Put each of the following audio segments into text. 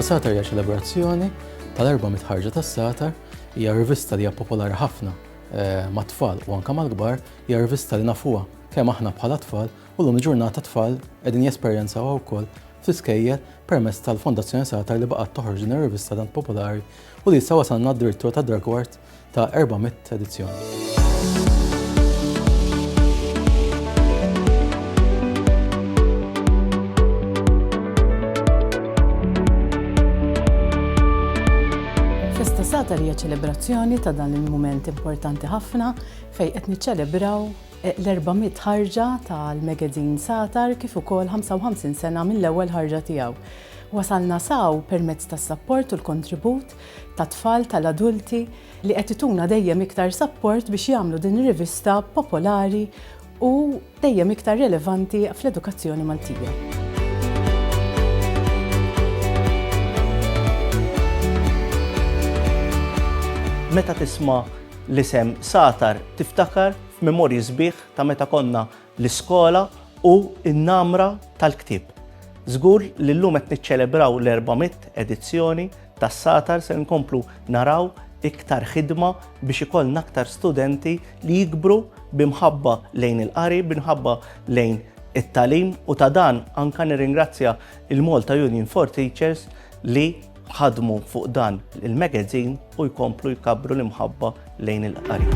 Is-Satar hija ċelebrazzjoni tal-erba' mitħarġa tas-Satar hija rivista li hija popolari ħafna eh, mat-tfal u anke mal-kbar, hija rivista li nafuha kemm aħna bħala tfal u llum il-ġurnata t-tfal qegħdin jesperjenzawha wkoll fl-iskejjel permezz tal-Fondazzjoni Satar li baqgħet toħroġ din ir-rivista tant popolari u li issa wasalna addirittura tad-dragward ta' 400 edizzjoni. Festa Satar hija ċelebrazzjoni ta' dan il-mument importanti ħafna fejn qed niċċelebraw l-erba' mitt ħarġa tal-magazine Satar kif ukoll 55 sena mill-ewwel ħarġa tiegħu. Wasalna s'hawn permezz tas-sapport u l-kontribut tat-tfal, tal-adulti li qed ituna dejjem iktar sapport biex jagħmlu din ir-rivista popolari u dejjem iktar relevanti fl-edukazzjoni Maltija. Meta tisma' L-isem Satar tiftakar f'memorji sbieħ ta' meta konna l-iskola u n-namra tal-ktieb. Żgur li llum qed niċċelebraw l-400 edizzjoni tas-Satar ser inkomplu naraw iktar ħidma biex ikollna aktar studenti li jikbru bi mħabba lejn il-qari, bi mħabba lejn it-tagħlim u ta' dan anke nirringrazzja l-Malta Union for Teachers li ħadmu fuq dan il-magazin u jkomplu jkabbru l-imħabba lejn il-qari.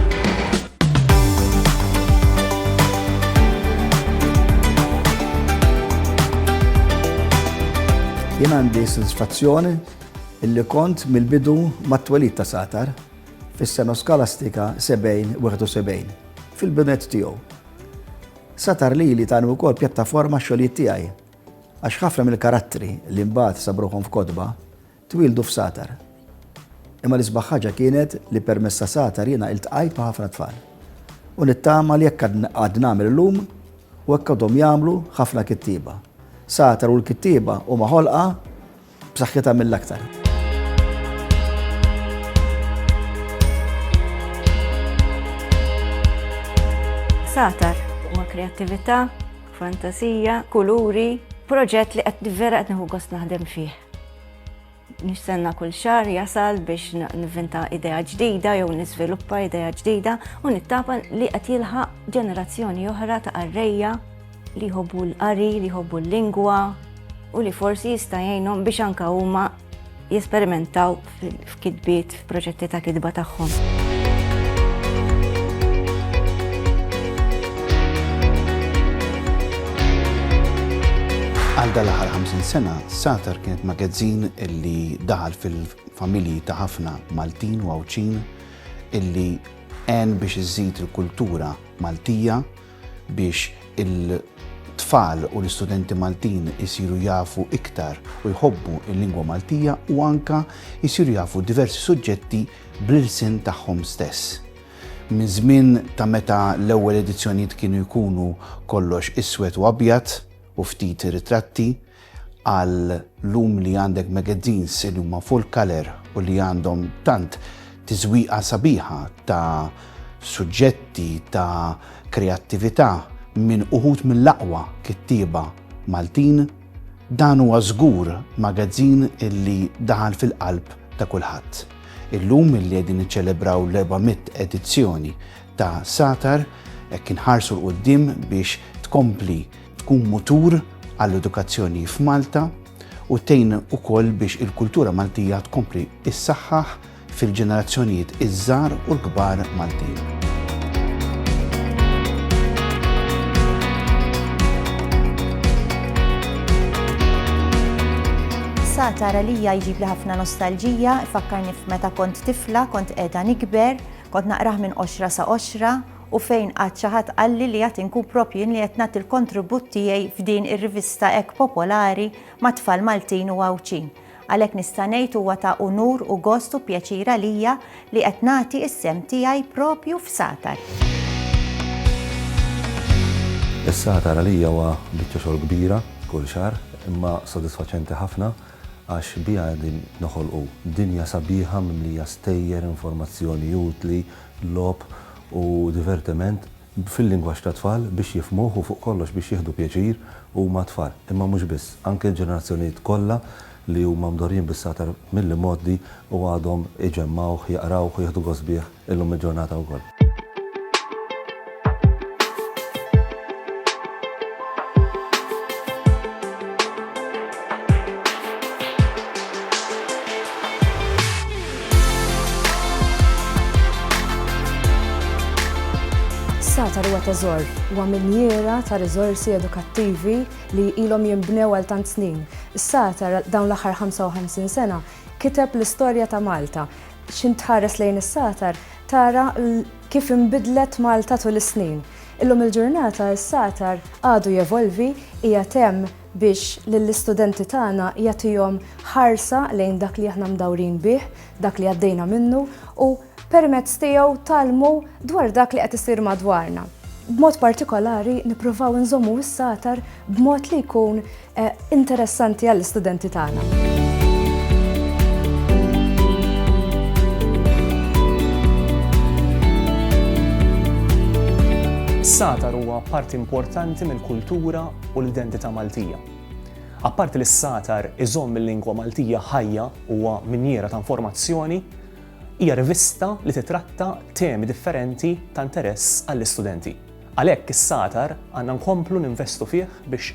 Jien għandi sensfazzjoni illi kont mill-bidu mat-twelid ta' Satar fis-sena skolastika 70-71 fil-binet tiegħu. Satar li li tani wkoll pjattaforma xogħlijiet tiegħi Għax ħafna mill-karattri li mbagħad sabu ruħhom f'kotba, twieldu f'Satar. Imma l-isbaħ ħaġa kienet li permezz ta' Satar jiena iltqajt ma' ħafna tfal. U nittama li hekk għad nagħmel illum u hekk għadhom jagħmlu ħafna kittieba. Satar u l-kittieba huma ħolqa b'saħħitha mill-aktar. Satar huma kreattività, fantasija, kuluri, proġett li qed vera qed nieħu gost naħdem fih. Nistenna kull xahar jasal biex nivvinta idea ġdida jew niżviluppa idea ġdida u nittapa li qed jilħaq ġenerazzjoni oħra ta' qarrejja li jħobbu l-qari, li jħobbu l-lingwa u li forsi jista' jgħinhom biex anka huma jesperimentaw f'kitbiet, f'proġetti ta' kitba tagħhom. Għal dal-aħħar 50 sena, Satar kienet magazzin illi daħal fil-familji ta' ħafna Maltin u Għawċin illi għen biex iżid il-kultura Maltija biex il-tfal u l-istudenti Maltin isiru jafu iktar u jħobbu l-lingwa Maltija u anka jisiru jafu diversi suġġetti bl-ilsien tagħhom stess. Minn żmien ta' meta l-ewwel edizzjonijiet kienu jkunu kollox iswed u abjad u ftit ritratti, Għal-lum li għandek magazines li huma full color u li għandhom tant tiżwieqa sabiħa ta' suġġetti ta' kreattività minn uħud mill-aqwa kittieba Maltin, dan huwa żgur magazin li daħal fil-qalb ta' kulħadd. Illum li qegħdin niċċelebraw l-400 edizzjoni ta' Satar, hekk inħarsu l-quddiem biex tkompli tkun mutur għall-edukazzjoni f'Malta u tgħin ukoll biex il-kultura Maltija tkompli issaħħaħ fil-ġenerazzjonijiet iż-żgħar u l-kbar Maltin. Sa tara li jġib li ħafna nostalġija, fakkarni f'meta kont tifla, kont qiegħda nikber, kont naqrah minn qoxra sa qoxra, u fejn qatt xi ħadd qalli li għad inkun proprju jien li qed nagħti l-kontribut tiegħi f'din ir-rivista hekk popolari mat-tfal Maltin u Għawdxin. Għalhekk nista' ngħid huwa ta' unur u gost u pjaċir għalija li qed nagħti s-sehem tiegħi proprju f'Satar. Is-Satar għalija huwa biċċa xogħol kbira kull xahar imma sodisfaċenti ħafna għax biha qegħdin noħolqu dinja sabiħa mimlija stejjer, informazzjoni utli, logħob u divertiment fil-lingwaġġ tat-tfal biex jifhmuh u fuq kollox biex jieħdu pjaċir huma t-tfal, imma mhux biss, anke l-ġenerazzjonijiet kollha li huma mdorrijin bis-satar mill-imgħoddi u għadhom iġemmgħuh, jaqrawh u jieħdu gost bih illum il-ġurnata wkoll. Satar huwa teżor huwa minjiera ta' riżorsi edukattivi li ilhom jinbnew għal tant snin. Is-Satar dawn l-aħħar 55 sena kiteb l-istorja ta' Malta. X'intħares lejn is-Satar tara Kif inbidlet Malta tul is-snin? Illum il-ġurnata s-satar għadu jevolvi, qiegħed hemm biex lill-istudenti tagħna jagħtihom ħarsa lejn dak li aħna mdawrin bih, dak li għaddejna minnu u permezz tiegħu tgħallmu dwar dak li qed isir madwarna. B'mod partikolari nippruvaw inżommu s-satar b'mod li jkun interessanti għall-istudenti tagħna. Is-satar huwa parti importanti mill-kultura u l-identità Maltija. Apparti li s-satar iżomm il-lingwa Maltija ħajja huwa minjiera ta' informazzjoni, hija rivista li titratta temi differenti ta' interess għall-istudenti. Għalhekk is-satar għandna nkomplu ninvestu fih biex